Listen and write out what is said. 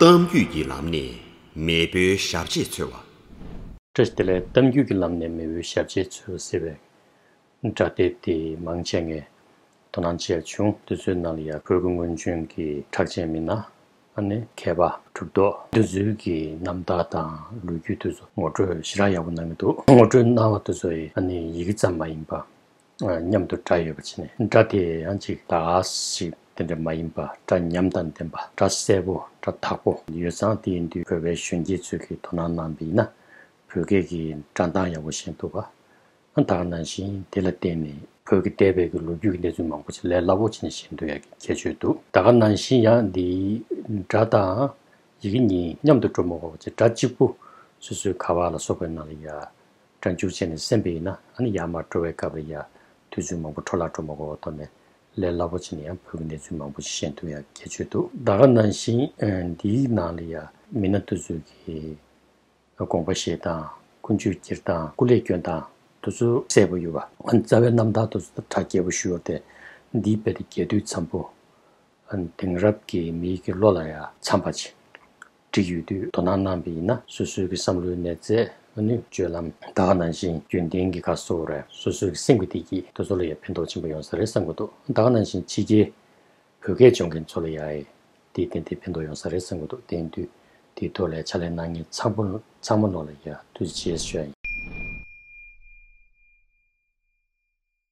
གཏམ་རྒྱུད་ཀྱི་ལམ་ནས་མེས་པོའི་ཞབས་རྗེས་འཚོལ་བ། སྒྲ་དེ་ལས་གཏམ་རྒྱུད་ཀྱི་ལམ་ནས་མེས་པོའི་ཞབས་རྗེས་འཚོལ་བ་ཟེར་བའི་སྒྲ་དེ་དེ་མང་ཆེ་ངས་དོ་སྣང་བྱས་བྱུང་འདི་ཚོའི་ནང་ལ་ཡ་གོས་ཀྱི་སྔོན་བྱོན་གྱི་གྲགས་ཅན་མི་སྣ་ནི་མཁས་པ་གྲུབ་རྟོག་འདི་ཚོའི་གི་རྣམ་དག་དང་ལོ་རྒྱུས་དེ་ཚོ་ངོ་སྤྲོད་ཞེ་དྲག་ཡག་པོ་གནང་གི་འདུག་ངོ་སྤྲོད་གནང་བ་དེ་ཚོ་ཡི་ཡི་གེ་ཙམ་མ་ཡིན་པ་མཉམ་དུ་སྒྲ་ཡོད་པ་བྱས་ནས་སྒྲ་དེ་ཡང་ཅིག་ལ་ཞིག་དེ་འདྲ་མ་ཡིན་པ་སྒྲ་ཉམས་དང་ལྡན་པ་སྒྲ་གསལ་པོ་སྒྲ་དག་པོ། ཡོད་ཙང་དེའི་འདུས་བོད་པའི་གཞོན་སྐྱེས་ཚོས་ཀྱིས་དོ་སྣང་གནང་པ་ཡིན་ན་བོད་སྐད་ཀྱི་སྒྲ་མདངས་ཡག་པོ་ཞན་ཐུབ་པ་ཨང་དག་ནང་བཞིན་དེ་ལ་བརྟེན་ནས་བོད་ཀྱི་འདས་པའི་གི་ལོ་རྒྱུས་ཀྱི་གནས་ཚུལ་མང་པོ་ཆེ་ལས་སླ་པོ་ཆེ་ནས་ཤེས་འདོད་ཡག་གི་ཁྱད་ཆོས་འདུག་ད་ག་ནང་བཞིན་ཡང་འདི་སྒྲ་དང་ཡི་གེ་གཉིས་མཉམ་དུ་འགྲོ་མི་འོང་བ་བཅས་སྒྲ་གཅིག་པུ་སོ་སོའི་ག་བ་ལ་སོགས་པའི་ནང་ལ་ཡ། སྐྲ་འཁྱུག་བྱས་ནས་སེམས་པས་ཡིན་ན་ཨ་ནི་ཡར་མར་འགྲོ་བའི་སྐབས་རེད་ཡ། དུས་ཚོད་མང་པོ་འཕྲོ་བརླག་འགྲོ་མ་གོ་བ་མཐོང་ནས། ལས་སླ་པོ་ཅན་ནི་ཡང་བོད་ཀྱི་གནས་ཚུལ་མང་པོ་ཞིག་ཤེས་འདུག་ཡ་སྐད་ཆོས་འདུག། ཟླ་ག་ནང་བཞིན་འདིའི་ནང་ལ་ཡ། མི་སྣ་བསྟོད་ཚུལ་གྱི། དགོངས་པ་བཞེས་སྟངས། ཀུན་སྤྱོད་བསྐྱེད་སྟངས་སྐུ་ལས་བསྐྱོན་སྟངས། དུ་ཚོད་གསལ་པོ་ཡོད་པ། རྩ་བའི་རྣམ་ཐར་དུ་ཚོད་དང་གྲགས་རྒྱས་པོ་ཞུ་འོར་ཏེ། འདིའི་དཔེ་དེ་རྒྱས་བསྡུས་འཚམས་པོ། དེང་རབས་ཀྱི་མིའི་གི་བློ་ལ་ཡ་མཚམས་པ་ཅིག་བསྒྲིགས་ཡོད་དུས་དོ་སྣང་གནང་པས་ཡིན་ན་སོ་སོའི་གི་བསམ་བློའི་ནས་ཚད་མ་ནུས་སྤྱོད་ལམ་དག་གནང་བཞིན་རྒྱུན་ལྡན་གི་ག་སོ་ར་སོ་སོའི་གི་སེམས་ཀི་བདེ་སྐྱིད་དོ་ཚོ་ལ་ཡ་ཕན་ཐོག་ཆེན་པོ་ཡོང་ས་རེད་བསམ་གི་འདུག་དག་གནང་བཞིན་ཕྱི་རྒྱལ་བོད་སྐད་སྦྱོང་མཁན་ཚོ་ལ་ཡ་ཨེ་དེ་བདེན་དེ་ཕན་ཐོག་ཡོང་ས་རེད་བསམ་གི་འདུག་དེང་དུས་དེ་ཐོག་ལས་ཕྱ་ལས་གནང་མཁན་ཚང་པོ་ཚང་མ་ནོར་ལ་ཡ་དུས་རྗེས་ཤོས་ཡིན།